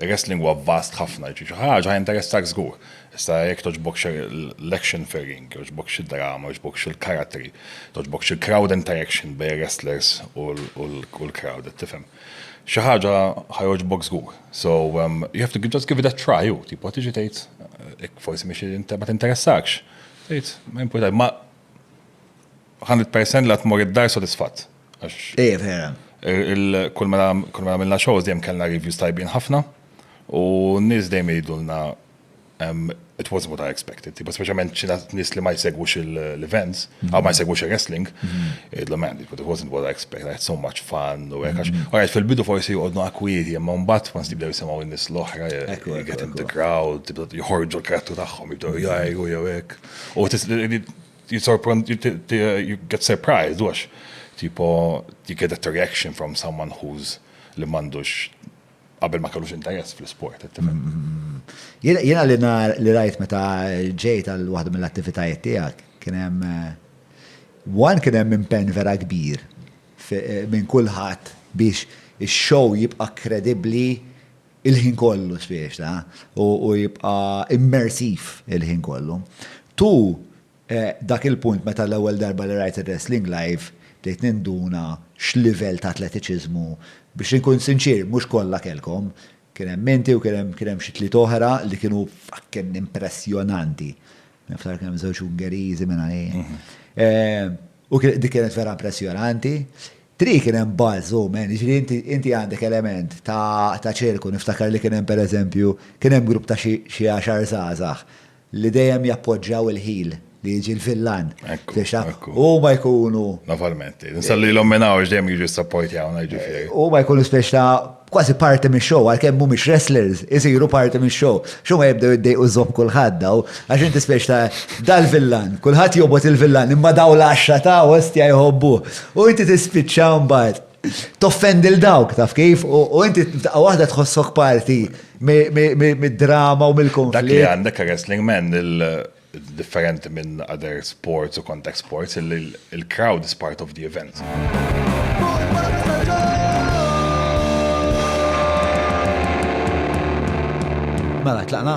Ir-wrestling huwa vast ħafna, jiġifieri xi ħaġa ħa jinteressak żgur. Issa jekk togħġbokx l-action fir-ring, jogħġbokx id-drama, jogħġbokx il-karattri, togħġbokx il-crowd interaction bejn ir-wrestlers u l-crowd, qed tifhem. Xi ħaġa ħa jogħġbok żgur. So, you have to just give it a try hu tipo tiġi tgħid jekk forsi mhix inter ma tinteressakx. Tgħid ma jimpurtax ma 100% li ħa tmur id-dar sodisfatt. Ej, vera. Kull mela għamilna shows dejjem kellna reviews tajbin ħafna u n-nies dejjem jgħidulna it wasn't what I expected. Tipo, specialment ċina nis li ma jsegwux l-events, għaw ma jsegwux il-wrestling, id-lu man, it wasn't what I expected, I had so much fun, u għekax. Għajt fil-bidu forsi jgħodnu akwiri, jemma mbat ma nstibdew jisimaw il-nis l-ohra, get in the crowd, jħorġu l-krattu taħħom, jibdew jgħajru, jgħek. Jisorprend, you get surprised, għax tipo you get that reaction from someone who's li m'għandux qabel ma kellux interess fl-isport. Jiena li rajt meta ġejt għal waħda mill-attivitajiet tiegħek kien hemm eh, one kien hemm impenn vera kbir eh, minn kulħadd biex ix-show jibqa' kredibbli il-ħin kollu spiex ta' u jibqa' immersiv il-ħin kollu. Tu dak il-punt meta l-ewwel darba li rajt ir-wrestling live bdejt ninduna x'livell ta' atletiċiżmu, biex inkun sinċier mhux kollha kellkom, kien hemm inti u kien hemm kien hemm xi tliet oħra li kienu fucking impressjonanti. Niftakar kien hemm żewġ Ungeriżi minn għalih. U dik kienet vera impressjonanti. Tri kien hemm bars u men, jiġifieri inti inti għandek element ta' ta' ċirku, niftakar li kien hemm pereżempju, kien hemm grupp ta' xi xi għaxar żgħażagħ li dejjem jappoġġjaw il-ħil li jiġi l-villan. Ekku, Fiex taf, ekku. huma jkunu, Naf għal-menti. Nsellilhom minn hawn għax dejjem jiġu jissappojtjawna jiġifieri. huma jkunu spiex ta' kważi parti mix-show, għalkemm mhumiex wrestlers, isiru parti mix-show. X'huma jibdew iddejqu żopp kulħadd daw, għax inti speċi ta' dal-villan, kulħadd jobgħod il-villan, imma daw l-għaxra ta' ostja jħobbuh. U inti tispiċċa mbagħad toffendi lil dawk, taf kif? U inti f'daqqa waħda tħossok parti mid-drama u mill-konflitt. Dak li għandek wrestling man differenti minn other sports u contact sports illi il-crowd is part of the event. Mela, tlaqna?